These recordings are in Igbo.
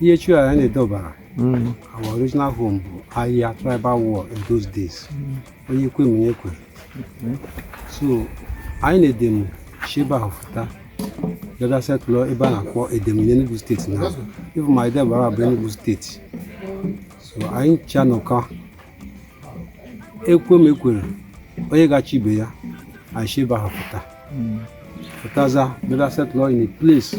ihe chiri anyị n'Ede Ọbara mm. our original home bụ aya tribal war in those days mm. onye ekwe m onye ekwe mm. so anyị na Edem shi ebe ahụ fụta bịa bịa settle ebe a na-akpọ Edem n'Enugu steeti now even ma Ede Ọbara bụ Enugu steeti so anyị ncha nọkọ ekwe m ekwere onye ga-achị ibe ya anyị shi ebe ahụ fụta fụtaza bịa bịa settle in a place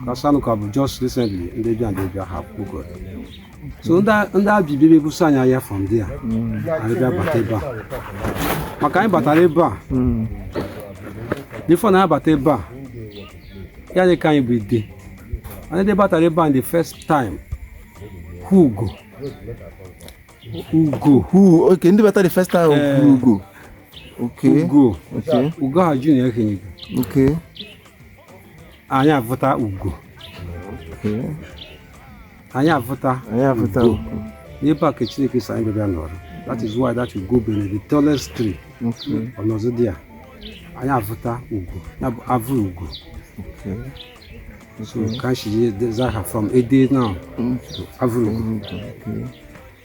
because Anuka bụ just recently ndị bịa ndị bịa ha kpụgo so ndị a bịa bịa ebuso anyị aya from there anyị bịa bata ebe a maka anyị batara ebe a before na anyị bata ebe a ya dị ka anyị bụ Ede anyị ndị batara ebe a the first time hụ ugo ugo hụ okay ndị batara the first time eh. hụ ugo ugo ugo ha junior ekenyego anyị avụta ugo anyị avụta anyị avụta ugo n'ebe a ka Chineke sị anyị bịa nọrọ that is why that ugo be na the tallest tree ọnọzọ dị ya anyị avụta ugo ya bụ Avurugo so ka anyị si za aha from Ede now to Avurugo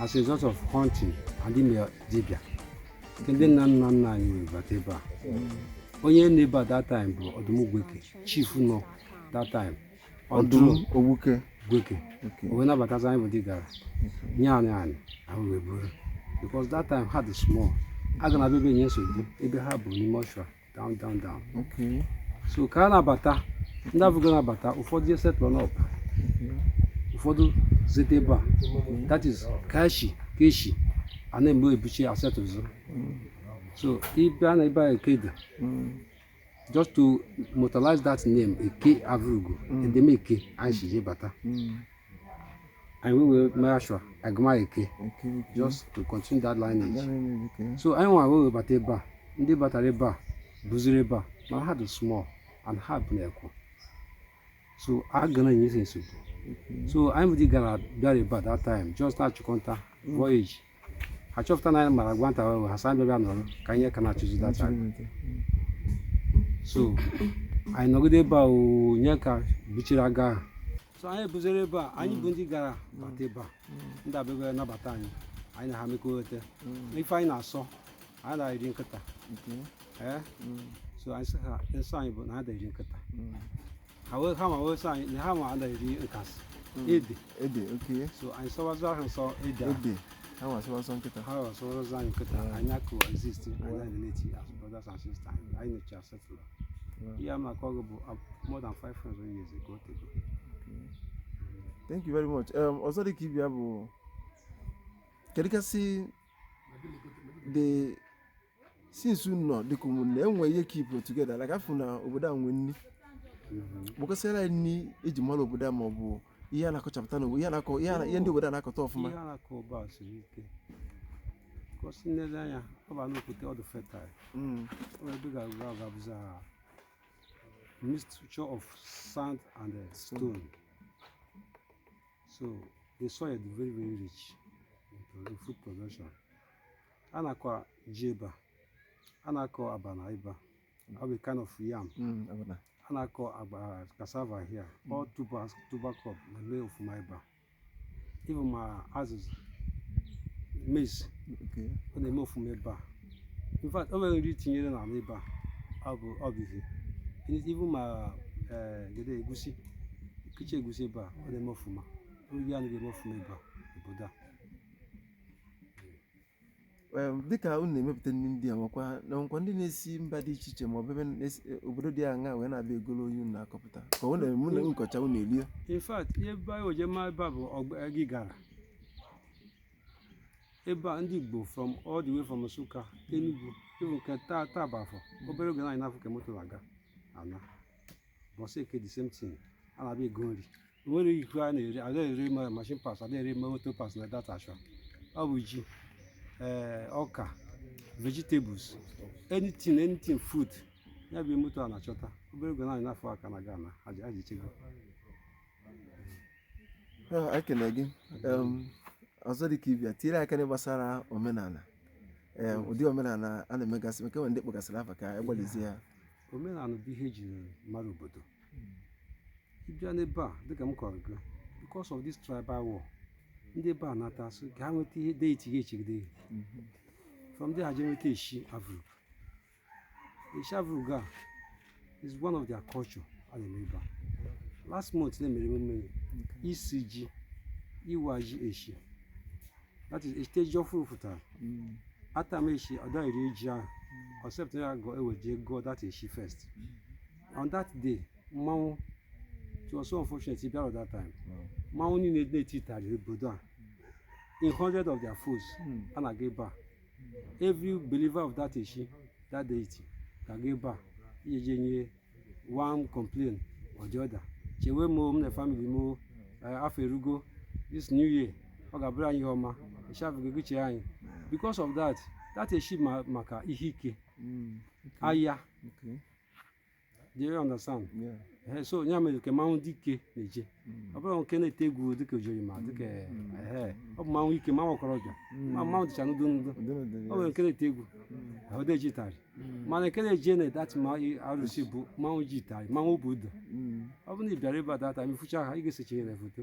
as a result of hunting and ime dibịa nke ndị nna nna nna anyị wee bata ebe a onye nọ ebe a that time bụ Ọdụm Gweke chief nọ that time Ọdụm Owuke Gweke Okay. wee nabatazi anyị bụ ndị Igara nye anyị anị anyị wee buru because that time ha dị small a ga na-abịa ebe nye nsogbu ebe ha bu n'ime ọshụa down down down Okay. so ka a na-abata ndị Avurugo na-abata ụfọdụ je settle n'up ụfọdụ zete ebe a that is ka shi ka e shi a na-eme ebuchi asetụzụ so ị bịa na ebe a Eke dị Mm. just to immortalize that name Eke Avurugo Edem Eke anyị si je bata Mm. and we will make sure a gụma Eke just to continue that lineage so anyị nwa wee bata ebe a ndị batara ebe a buziri ebe a mana ha dị small and ha bụ na-ekwu so a ga na-enye nsogbu so anyị ndị Igara bịara ebe a that time just n'ịchụ nta voyage ha chọpụta na anyị mara ịgba nta ahụ ha sị anyị bịa nọrọ ka anyị ka na-achụzi nta so anyị nọgide ebe a ọ ya ka bichiri aga ahụ so anyị buzere ebe a anyị bụ ndị gara bata ebe a ndị a abịa nabata anyị anyị na ha mekọrịta ife anyị na-asọ anyị da-eri nkịta ee so anyị sị ha nsọ anyị bụ na ha da-eri nkịta ha wee ha nwa wee sị anyị na ha nwa ada eri nkasị ede ede oke so anyị sọwazụ ahụ nsọ ede a ede ha nwa sọwa sọ nkịta ha wee sọwazụ anyị nkịta Mm. anyị a-coexist anyị na-relate as brothers and sisters anyị anyị nọchi a-settle Mm. ihe a m na-akọ gị bụ ab- more than 500 years ago tego thank you very much um, ọzọ dị ka ibe ya bụ kedu ka e si the since unu nọ dịka ụmụnne enwe ihe keep unu together like afụ na obodo a nwee nri kpọkọsịara anyị nri eji mara obodo a ma ọ bụ ihe a na-akọchapụta na ihe a na-akọ ihe a na- ihe ndị obodo a na-akọta ọfụma ihe a na-akọ ebe a siri ike cos i lele anya ọ ba n'okwute ọ dụ fertile Mm, ọ ebe ga-agwa ọ ga-abụzi mixture of sand and uh, stone so the soil is very very rich in pro- in food production a na-akọ ji ebe a a na-akọ abana ebe a ọ bụ kind of yam Mm, abana. a na-akọ agba cassava here all tuber tuber crop na-eme ọfụma ebe a even ma azụzụ maize Okay. ọ na-eme ọfụma ebe a in fact o nwere nri i tinyere n'ala ebe a ọ bụ ọ bụ ihe Any- even ma eh, gede egusi kiche egusi ebe a ọ na-eme ọfụma oyi anụ ga-eme ọfụma ebe a obodo a Em, dịka unu na-emepụta nri ndị a nwekwa na nkwa ndị na-esi mba dị iche iche ma ọ bụ ebe na-esi- e, obodo dị aṅa wee na-abịa egolo ihe unu na-akọpụta ka ọ na-eme unu kọcha unu erie in fact ihe ebe anyị oje ma ebe a bụ ọgba- Igala ebe a ndị Igbo from all the way from Nsụka Enugu even nke taa taa bụ afọ obere oge na anyị na-afụ ka moto na-aga ana bọsị Eke the same thing a na-abịa ego nri nwere iko a na-ere ada ere machine parts ada ere moto parts na that ashụa ọ bụ ji ee ọka vegetables anything anything food ya bụ moto a na-achọta obere oge na anyị na-afụ ha ka a na-aga ana aja aja echego Ah, ekele gị Em, ọzọ dị ka ibe ya tinyere aka n'ihe gbasara omenala Em, ụdị omenala a na-emegasị maka enwe ndị kpọgasịrị afa ka egbalịzie ya omenala bụ ihe ejiri mara obodo ịbịa n'ebe a dịka m kọrọ gị because of this tribal war ndị ebe a na-achọ ka ha nweta ihe deity ga-echegide ha from there ha je nweta eshi Avrugo eshi Avrugo a is one of their culture a na-eme ebe a last month na e mere emume ya isi ji iwa ji eshi that is eshite ji ọfụrụ pụtara atama eshi ọ daghị eri ji ahụ except ya ga-ewe jee gọọ that eshi first on that day mmanwụ it was so unfortunate bịara at that time mmanwụ niile na-eti itari obodo a in hundred of their foes hmm. a na-aga ebe a every believer of that eshi that deity ga-aga ebe a iji je nye one complain or the other chewe m m na family m eh, afọ erugo this new year ọ ga-abụrụ anyị ihe ọma eshi bụ gị ga-eche anyị because of that that eshi maka ihe ike hmm, aya Do you understand? Yeah. Ehe, so ya mere ka mmanwụ dị ike na-eje ọ bụrụ nke na-ete egwu dịka ojori ma dịka ehe ọ bụ mmanwụ ike mmanwụ ọkọrọbịa ma mmanwụ dịcha n'ụdị n'ụdị Ndị nọ dị- ọ nwere nke na-ete egwu ọ dị eji itari mana nke na-eje na that ma arụsị bụ mmanwụ ji itari mmanwụ bụ udo Mm. ọ bụrụ na ị bịara ebe a that time ị fụcha ha ị ga-esechinyere foto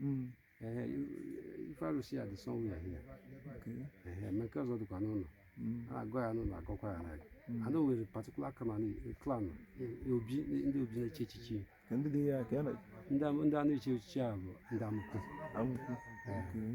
Mm. Ehe, i- ife arụsị a dị somewhere here. Okay. Ehe, ma nke ọzọ dịkwa n'ụlọ Mm. a na-agọ ya n'ụlọ agọkwa ya n'agụ a na o nwere particular clan e- obi ndị obi na-echi echichi Ka ndị dị ya ka ya na ndị am- ndị a na-echi echichi a bụ ndị amụkwu amụkwu. Okay.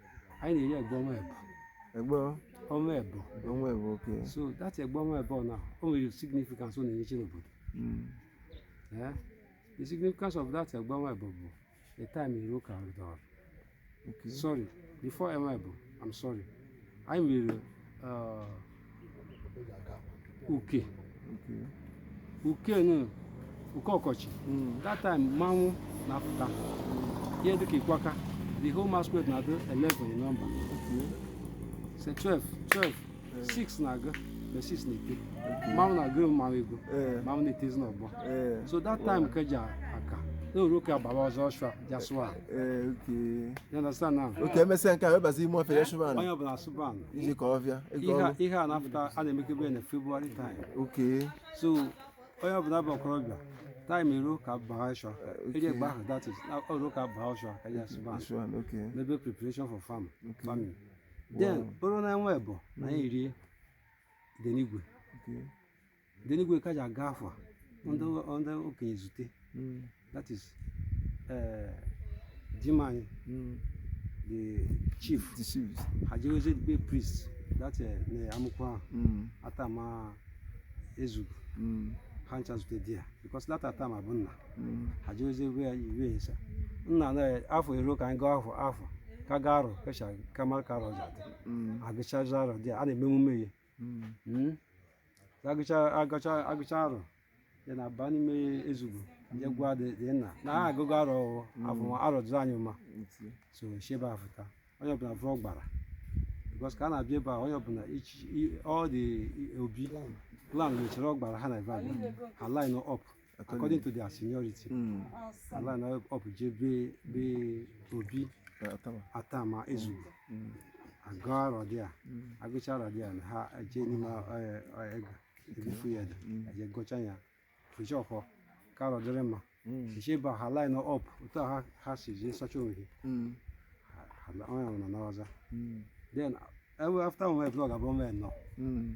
anyị na-eri egba ọnwa ebo egba ọnwa ebo ọnwa ebo okay so that egba ọnwa ebo na o nwere significance ọ na-enyechi n'obodo hmm. eh? the significance of that egba ọnwa ebo bụ the time iru ka ọdọrọ sorry before ọnwa ebo i'm sorry anyị mere uh, uke uke nụ uke ọkọchị that time mmanwụ na-apụta ihe dịka ikwaka the whole masquerade na-adị 11 in number say 12 12 6 na-aga na 6 na-ete mmanwụ na-agụ mmanwụ ego Eh, mmanwụ na-etezi n'ọgbọ eh. so that time ka ji aka na o ruo ka agbawa ọzọ ọshụa jasụa Ee, okay. You understand now? okay emesịa nke a webazi ime ọfịa ya chụba anụ Onye ọbụla asụba anụ. iji ka ọ bịa ego Ihe a- ọgwụ ihe a na-apụta a na-emekebe na February time. okay So onye ọbụla bụ ọkọrọbịa time eruo ka baa ọshụa. Eji egba ahụ that is na o ruo ka baa ọshụa ka eji asụba anụ. chụba anụ okay Mebe preparation for farm farming. Then o ruo n'ọnwa ebo anyị erie idenigwe. okay idenigwe ka ji agụ afọ ndị ndị okenye zute Mm, that is eh, di m anyị mm. the chief The chiefs. ha jewezie be priest that eh, na amụkwa ahụ Mm, atama Ezugwu mm, ha ncha zute there because that atama bụ nna mm. ha jewezie ebe ya iwe esa nna na afọ eruo ka anyị gụọ afọ afọ ka gụọ arọ kecha ka mara ka arọ ji adị Mm, agụchazi arọ there a na-eme emume ya Mm. agụcha agụcha agụcha arọ then a aba n'ime Ezugu je gwa dị dị nna na ha agụgo arọ afọ arọ dụrụ anyị mma so e sheba a fụta onye ọbụla vuru ọgbara because ka a na-abịa ebe a onye ọbụla ichi i- all the obi clan nwechara ọgbara ha na ebe a ha line up according to their seniority Mm. a line up je be be obi Eh, Atama. Atama Ezugu Mm. agụ arọ dị a Mm. agụcha arọ dị a na ha eje n'ime eh, eh, ego ebufu ya dị Mm. eje gọcha ya Fịjiọkụ ka arọ dịrị mma Mm. e sheba ha line up otu a ha ha si jee sacha onwe gị Mm. ha onye nwụrụ na ọza Mm. then ewe after onwe blọg abụọ mee nọ Mm.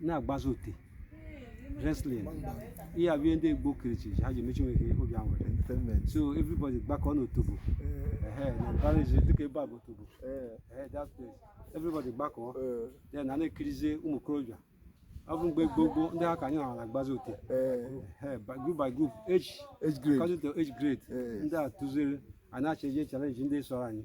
na-agbazi ote wrestling ihe a bụ ndị Igbo kirichi ha ji emechi nwoke obi ahụ so everybody gbakọ n'otobo na mbara ezi dịka ebe a bụ otobo that place everybody gbakọ then na na-ekirizie ụmụ okorobịa ọ bụ mgbe gboo gboo ndị ha ka anyị nọ na-agbazi ote group by group age grade age grade ndị a tụziri a na-achọ eje challenge ndị sọrọ anyị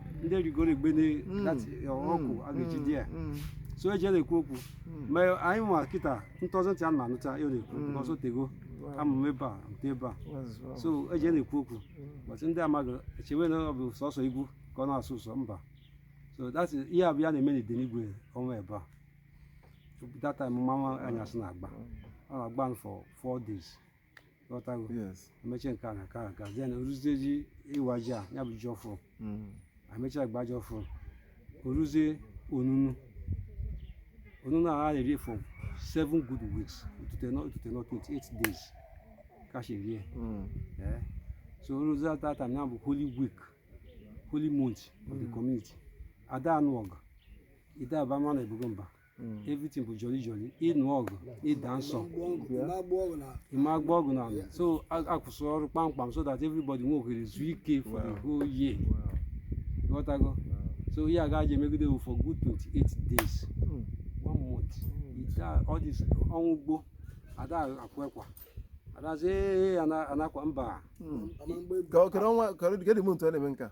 ndị erigoro ugbene ọkụ a ga-eji dị ya so eji na-ekwu okwu ma anyị nwa kịta na-atọzi ntị a na-anụta ihe ọ na-ekwu a sị o tego ama m ebe a nte ebe a so eji na-ekwu okwu but ndị amaghị echewe na ọ bụ sọsọ egwu ka ọ na-asọ ụsọ mba so that's ihe a bụ ihe a na-eme n'ide n'igwe ọnwa ebe a that time mmanwụ anyasị na-agba ọ na-agba for four days ghọtago yes emechie nke a na nke a na nke a then o ruzie ji ịwa ji a ya bụ ji ọfụụ Mm. emechie agba ji ọfụụ o ruzie onunu onunu a a na-eri for seven good weeks otute nọ otute nọ 28 days ka si rie Mm. Eh, so o ruzie at that time ya bụ holy week holy month of the community ada anụ ọgụ ị da aba mmadụ ibe gị mba everything bụ jolly jolly ịnụ ọgụ ịda nsọ ịma agba ọgụ na ala so a- akwụsị ọrụ kpamkpam so that everybody nwe ohere zuo ike for the whole year ghọtago so ihe a ga-eji emegide bụ for good 28 days one month ị da a- all this ọnwụ ugbo ada akwa ekwa adazi ee anakwa mba Ka- kedu ọnwa- kedu- kedu mgbe ntu a na-eme nke a?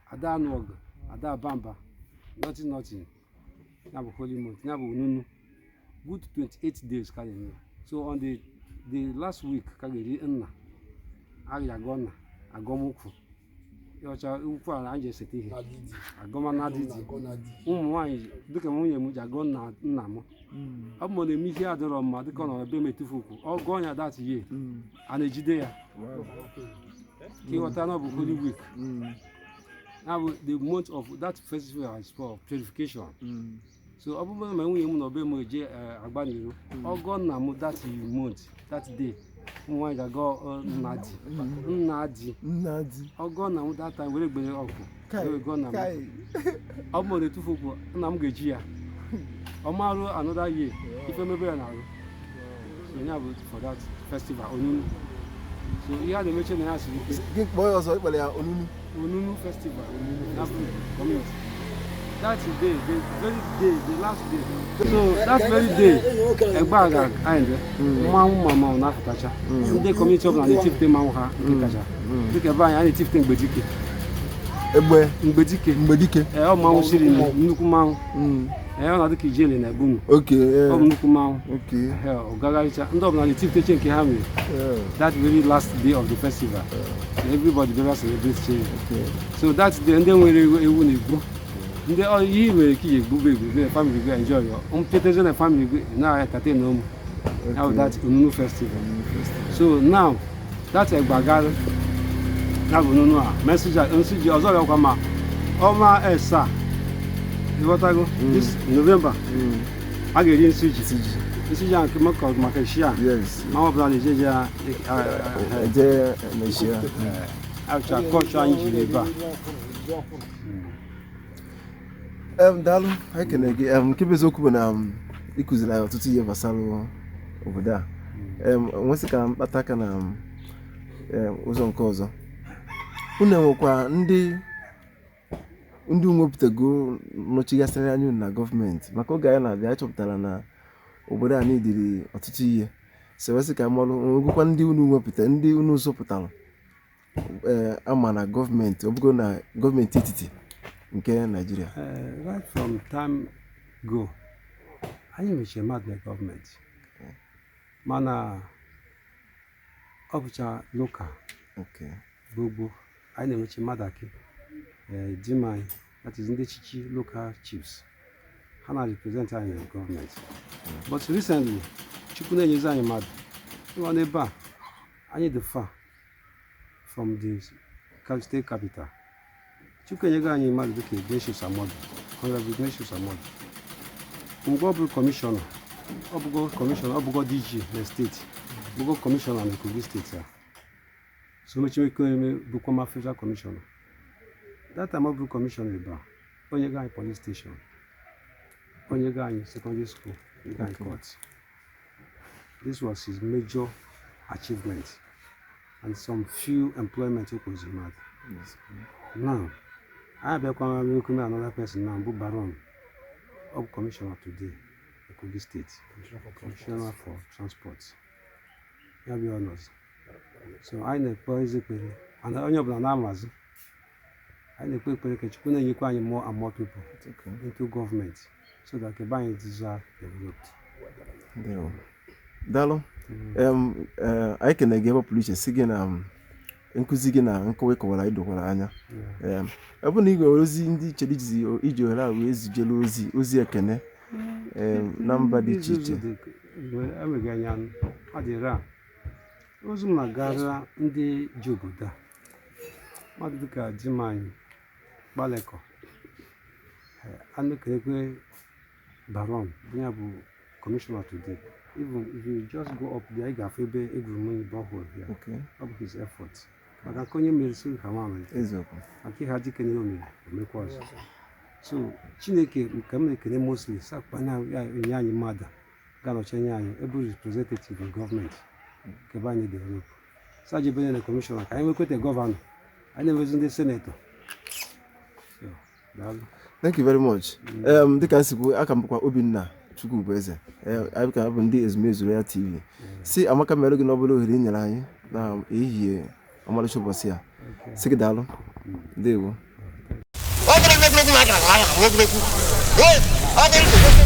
ada anụ ọgụ ada aba mba nothing nothing ya bụ holy month ya bụ onunu good 28 days ka a ga-eme ya. so on the the last week ka a ga-eri nna a ga-agọ nna agọmụkwụ ọcha ukwu ala anyị ji eseta ihe agọmana dị dị ụmụ nwaanyị dịka nwunye m ji agọ nna nna m ọ bụ na eme ihe adịrọ mma dịka ọ nọrọ be m etufu ukwu ọ gọọ ya that year a na-ejide ya ka ị ghọta na ọ bụ holy week na bụ the month of that festival is for purification so ọ bụrụ na nwunye m nọ be m eje eh, agba n'iro ọ gọ nna m that month that day ụmụ nwaanyị ga-agọ eh, nna di nna di ọ gọ nna m that time were gbere ọkụ Kai, agọ nna m. kai. ọ bụ na etufu okwu nna m ga-eji ya ọ ma ru another year ife mebe ya n'arụ so ya bụ for that festival onunu so ihe a na-emeche na ya siri ike Gị kpọọ ya ọzọ ị kpọrọ ya onunu. onunu festival na kọmuniti that day the very day the last day so that very day egbe a ga end mmanwụ ma mmanwụ na-apụtacha ndị kọmuniti ọbụla na-etifute mmanwụ ha nke kacha dịka ebe anyị a na-etifute mgbedike egbe mgbedike mgbedike ee ọ mmanwụ siri na nnukwu mmanwụ ee ọ na-adị ka ijele na igbo okay ọ bụ nnukwu mmanwụ okay ee ọ gagharịcha ndị ọbụla na-etifute nke ha nwere that very last day of the festival everybody bịara celebratechaa so that's the ndị nwere ewu na-egbu ndị ihe nwere ike iji egbube egbube family go enjoy your mpetezi na family go na-entertain ụmụ how that onunu festival so now that egbagara na bụ onunu e mesịa nsiji ọzọ bịakwa ma ọma esa ị ghọtago this november a ga-eri nsiji nsiji ahụ maka maka shia yes ma ọ bụla na-ejeje ya eje mechie Acha kọcha anyị jiri ebe a. Em, daalụ anyị kene gị em, nke bụ eziokwu bụ na ị kụziri anyị ọtụtụ ihe gbasara obodo a em, m wee sị ka m kpatụ aka na em, ụzọ nke ọzọ unu enwekwa ndị unu wepụtago nọchigasịrị anya unu na gọọmenti maka oge anyị na-abịa anyị chọpụtara na obodo a needịrị ọtụtụ ihe so wee sị ka m malụ nwegokwa ndị unu wepụta ndị unu zụpụtara ee eh, ama na gọọmenti ọ bụgo na gọọmenti etiti nke naijiria eh, right from time go anyị nwechiri mmadụ na gọọmenti mana ọ bụcha lokal gboo gboo anyị na-enwechi mmadụ akị eh, di m anyị that is ndị chichi local chiefs ha na-represent anyị na gọọmenti but recently chukwu na-enyezi anyị mmadụ ị ma na ebe a anyị dị far from the ca- state capital chukwu enyego anyị mmadụ dịka ignatius amodu honorable ignatius amodu mgbe ọ bụrụ kọmishọna ọ bụgo kọmishọna ọ bụgo dg na steeti bụgo kọmishọna na kogi steeti a so mechie ike eme bụkwa ma federal commissioner that time ọ bụ commissioner ebe a o nyego anyị police station o nyego anyị secondary school o nyego anyị court this was his major achievement and some few employment o kweziri mmadụ now anyị abịakwa n'okwu na another person now bụ baron ọ bụ commissioner today kogi state commissioner for transport ya bụ onye ọzọ so anyị na-ekpe ezi ekpere mana onye ọbụla na-amazị anyị na-ekpe ekpere ka Chukwu na-enyekwa anyị more and more people into government so that ka be anyị dịzie developed daalụ anyị ekene gị ebe pụrụ iche sị gị na nkụzi gị na nkọwa ị kọwara anyị dokwara anya Em, ọ bụrụ na ị nwere ozi ndị i chere izi iji ohere a wee zijere ozi ozi ekene em, na mba dị iche iche eleghị anya ọ dịrị a ozi m na-agara ndị ji obodo a mmadụ dịka di m anyị gbalịkọ anụ ka ekwe Baron, onye a bụ commissioner today. Even if you just go up there, ị ga-afụ ebe e gwuru mmiri borehole ya. Okay. Ọ bụ his effort. Maka nke onye mere siri ka nwa mere. Eziokwu. Maka e kele dike n'ihe o mere, o mekwa ọzọ. So Chineke ka m na-ekele mostly sakpa na ya enye anyị mmadụ ga-anọchi anya anyị ebe representative in government ka be anyị develop. Saji Benye na commissioner ka anyị nwekwete governor. Anyị na-enwezi ndị senator. thank you very much um, dịka m si kwu aka m bụkwa obinna chukwubueze anyị ka bụ ndị ezumezu royal tv sị amaka mere gị n'obele ohere i nyere anyị na ehihie ọmalịcha ụbọchị a sị gị daalụ ndewo ọ dịrị n'egwuregwu na agara agha bụ egwuregwu Ee, ọ dịrị n'egwuregwu